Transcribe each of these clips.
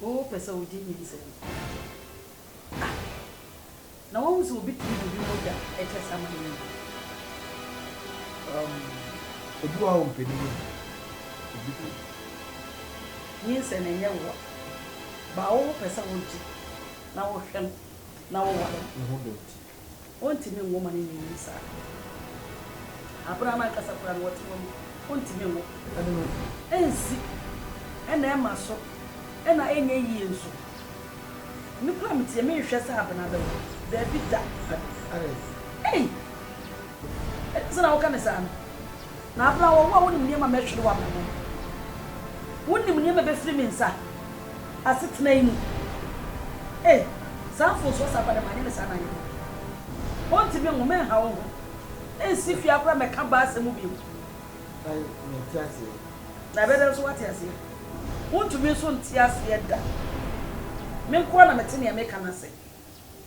Wo pɛ sɛ wogye nyinsɛn a, na woahu sɛ obi tiri biribi mogya kyɛ sa ma no nyi? Um, obi wɔ hɔ a ompɛ ne yam. Obi pɛ. Nyinsɛn nyɛ wo wa, ba a wopɛ sɛ wogye na wohwɛ no na woware no. Ne ho dɔ nti. Ontumi nwo ma no nyinyin saa. Abere a n'ankasa koraa no ɔte hɔ no, ontumi nwo. Ɛde no ensi, ɛna ɛma so, ɛna enyɛ yiye nso. Me koraa me tiɛ, menhwɛ sɛ abena bɛwo. Dabi da. Adɛn? Ei! Ɛnsɛ na woka no saa no. Na Abram, wo a wonim nneɛma a mɛhwere w'abrabɔ mu, wonim nneɛma a ɛbɛfiri me nsa asetena yi mu. Ei, saa mfomsoɔ saa koraa de, manyɛ no saa na anyɛ dɛn? Ɔnti me nwo, mɛnha wo ho, ɛnsi hwee ara koraa mɛka baa asɛm mu bio. Na mente aseɛ. Na ɛbɛyɛ dɛn nso woate aseɛ? Wontumi nso nte aseɛ da. Me nko ara na mete nea meka no ase.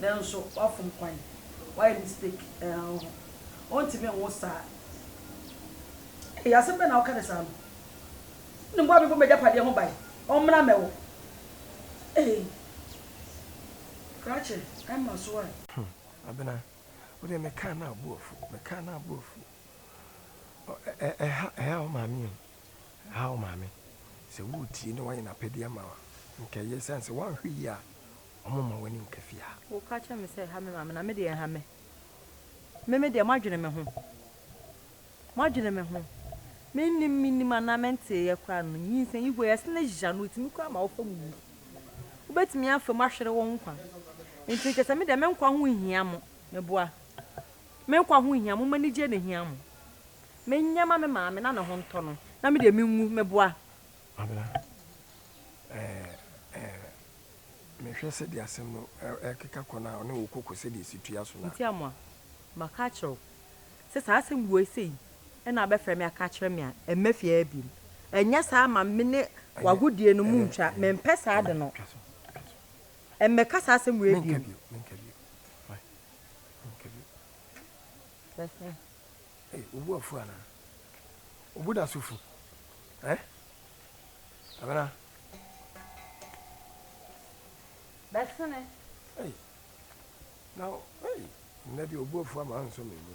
nanso wafom kwan, wayɛ mistake ɛɛɔh ɔntumi nwo saa eii asɛm bɛn na woka ne saa no, wonim boa me bɔ m'agyapadeɛ ho ban, ɔmmra mmɛwo eii krakye ɛmma so a. Hmm Abena wo deɛ me kaa no a wo bo afu, me kaa no a wo bo afu ɔ ɛ ha ɛha wo maame o, ɛha wo maame, sɛ wo retie na wayɛ n'apɛdeɛ ama wo a, nka ɛyɛ ɛsiane sɛ woanhwɛ yie a. wɔmma w'ani nka fie ha. Woka kyerɛ me sɛ ɛha me maame, na me deɛ ɛnha me. Me me deɛ moadwene me ho. Moadwene me ho. Mennim, mennim anaa menteeɛ koraa no, nyinsɛn Igwe, ɛse na gya no tumi koraa ma wofam wu. Wobɛtumi afam ahwere wo nkwa. Nti kyerɛ sɛ me deɛ me nkwa ho nhia mo, meboa. Me nkwa ho nhia mo, m'anigyeɛ na ɛhia mo. Menyɛ ma me maame na ne ho ntɔ no, na me deɛ menwu, meboa. Ana eh eh Mehwɛ sɛdeɛ asɛm no rekeka kɔ no a ɔne wo kɔ kɔ sɛdeɛ ɛsi tua so no a. Nti Amoah, maka akyerɛ wo sɛ saa asɛm woi sei na wobɛfrɛ me aka akyerɛ me a, ɛmma fie ha biom. Ɛnyɛ saa a ma me ne w'agodie no mu ntwa, mempɛ saa ade no. Mmɛka saa asɛm woi biom. Menka bio, menka bio, fine, menka bio. Bɛsɛe. Ei wo bo afu anaa? Wo bo da so fu eh? Abena. Bɛsene. Ei na ei nnɛ deɛ wo bo afu ama ansɔ me mu.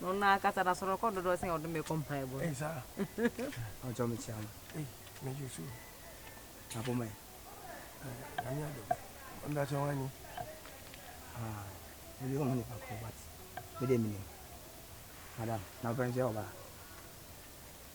No na kasa na soro kɔ dodo sen ɔdome kɔ mpae bo. Ei saa. Ɔjɔ me kyia mo. Ei me Yesu. Na bo me. Nyame adom. Mbra kyɛ wani. Ah, me bi omo nipa ko but me de me nim. Madam, na open kyɛ oba.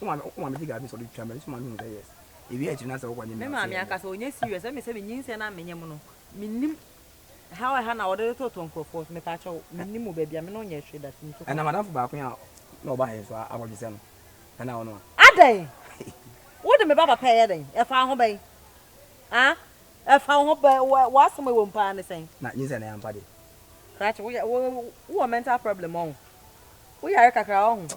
Wo maame wo maame gye gari sɛ ɔde twitwa mɛ nso maame hu sɛ yes. Ewie a akyiri no asɛ wokɔ nye mɛ ase. Me maame ankasa ɔnyɛ serious ɛmi sɛ me nyinsɛn na menyɛ mo no me nim ɛha ɛha na ɔde tototo nkorɔfoɔ so mepɛ akyɛw me nim mo baabi a me no nyɛ hwee da tumi to kwan. Ɛna madamfo baako yi a na ɔba ha yi nso a akɔgye sɛ no ɛna ɔno a. Adɛn? Wo de me ba papa ɛyɛ dɛn? Ɛfa wo ho bɛn? Ah? Ɛfa wo ho bɛn? Wo wo asɛm a ɛwɔ mu paa ne sɛn? Na nyinsɛn no yɛ ampa deɛ. Krakye wo yɛ wo wo wɔ mental problem ɔho wo yare kakra ɔho.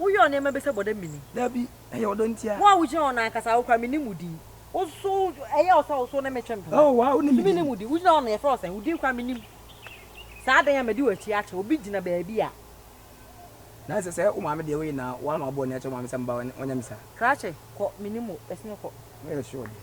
Woyɛ nneɛma bi sɛ bɔdɛ mini. Dabi, ɛyɛ ɔdɔ ntia. Wo a wogyina hɔ no ankasa, wo koraa mennim wo din. Woso, ɛyɛ wo sɛ woso ne me twe ntoma. Oh, waa, wonim me din. So mennim wo din? Wogyina hɔ no, yɛfrɛ wo sɛn? Wo din koraa mennim. Saa adɛn a madi w'akyi akyɛ? Obi gyina baabi a. Na ɛsɛ sɛ wo maame deɛ woyɛ naa woama ɔbɔne akyɛ wo maame sɛ mma ɔnyɛ me saa. Krakye, kɔ, mennim wo, ɛsono kɔ. Woyɛ sure deɛ?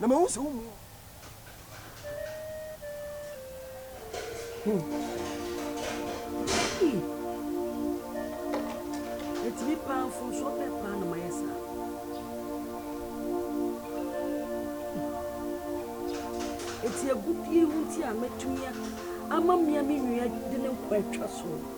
na mahu sɛ wommu wo. Ɛtumi paa mfomsoɔ bɛɛ paa na mayɛ saa. Ɛti agudie ho nti a matumi ama mmea me nua de ne nkwa atwa soɔ.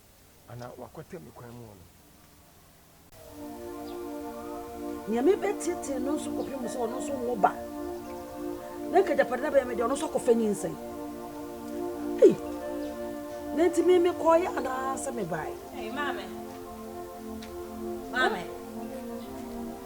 Anaa wɔakwata me kwan mu hɔ no. Nea mebɛteetee no nso kɔpem sɛ ɔno nso nwo ba, na anka agyapade no abɛyɛ me dea, ɔno nso akɔfa nyinsɛn. Ei! Na enti me mekɔeɛ anaasɛ mebaeɛ? Ei, maame! Maame!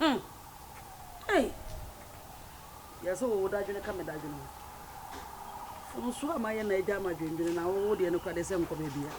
Hmm! Ei! Yɛ sɛ wo dadwene ka me dadwene ho. Mfomsoɔ a mayɛ na agya ama dwendwene na wo wo deɛ no kora deɛ sɛ nkɔ baabiara.